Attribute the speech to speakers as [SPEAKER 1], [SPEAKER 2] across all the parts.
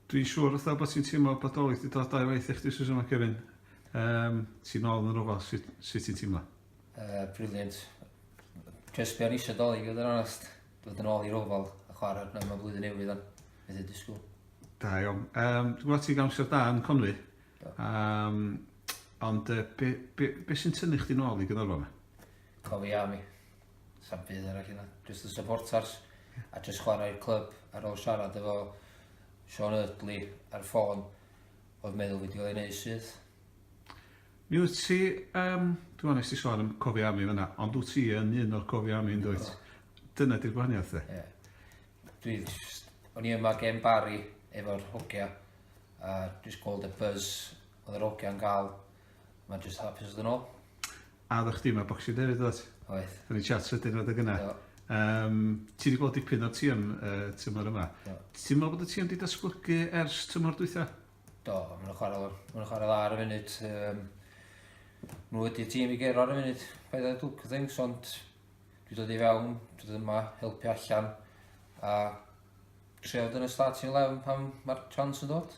[SPEAKER 1] Dwi'n siŵr fatha bod ti'n teimlo bod Dolig wedi dod dau waith i chdi Susan a Kevin. Um, ti'n nôl yn yr ofal, sut, sut ti'n teimlo? Uh, brilliant.
[SPEAKER 2] Just be o'n eisiau Dolig, oedd yn onest. Dod yn ôl i'r ofal a chwarae arno mewn blwyddyn newydd o'n. Beth ydy sgwyl? Da iawn.
[SPEAKER 1] Um, dwi'n gwybod ti'n gamser da yn Conwy. Um, ond uh, be, be, be sy'n tynnu chdi nôl i gyda'r fama? Cofi am i.
[SPEAKER 2] Sam byd arall yna. Just y supporters. A just chwarae'r clwb ar ôl siarad efo Sean Eardley ar ffôn. Oedd meddwl wedi cael ei wneud syth.
[SPEAKER 1] Mi wyt ti, um, dwi'n meddwl nes ti sôn am cofi ami fyna, ond wyt ti yn un o'r cofi ami yn dweud. Dyna di'r gwahaniaeth dde. Yeah. Dwi,
[SPEAKER 2] o'n i yma gen Barry efo'r hogia, a dwi'n gweld y buzz oedd yr hogia yn cael Mae'n jyst hapus fod yn ôl. A oeddech chdi
[SPEAKER 1] yma Boxing Day hefyd oeddet? Oedd. O'n i'n chat
[SPEAKER 2] sydyn oedd y
[SPEAKER 1] gyna. Um, ti wedi gweld dipyn o'r tîm uh, tymor yma. Do. Ti'n meddwl bod y tîm wedi datblygu ers tymor dwytha? Do, mae'n
[SPEAKER 2] chwarae lor. Mae'n chwarae dda ar y funud. Um, nhw wedi tîm i gero ar y funud. Paid â dwg things, ond dwi dod i fewn, dwi dod yma, helpu allan. A treod yn y starting 11 pan mae'r chance yn dod.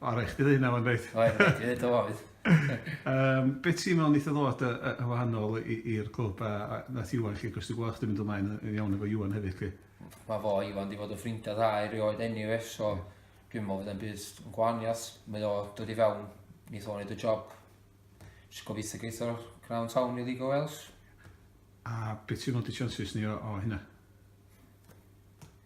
[SPEAKER 1] O, rhaid
[SPEAKER 2] chdi ddeud na
[SPEAKER 1] wan, reit. Oedd, rhaid i ddeud o oedd.
[SPEAKER 2] um,
[SPEAKER 1] be ti'n meddwl wnaeth o ddod yn wahanol i'r clwb a, a nath Iwan chi, cos ti'n gweld chdi'n mynd ymlaen yn iawn efo Iwan hefyd chi? Mae fo, Iwan,
[SPEAKER 2] di fod yn ffrindiau dda i rioed anyway, so yeah. dwi'n meddwl fydda'n byd yn gwahaniaeth. Mae o dod i fewn, nid o'n neud y job. Just gobeithio geitho'r Crown Town i League o Wales. A beth ti'n meddwl di
[SPEAKER 1] chances ni o, o hynna?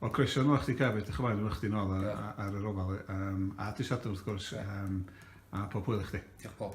[SPEAKER 1] Wel croeso nôl i chdi Cafyd, diolch o fawr efo chdi nôl ar yr ofal, a
[SPEAKER 2] dy
[SPEAKER 1] Sadwrn wrth gwrs, a
[SPEAKER 2] pob
[SPEAKER 1] hwyl i chdi. Diolch Paul.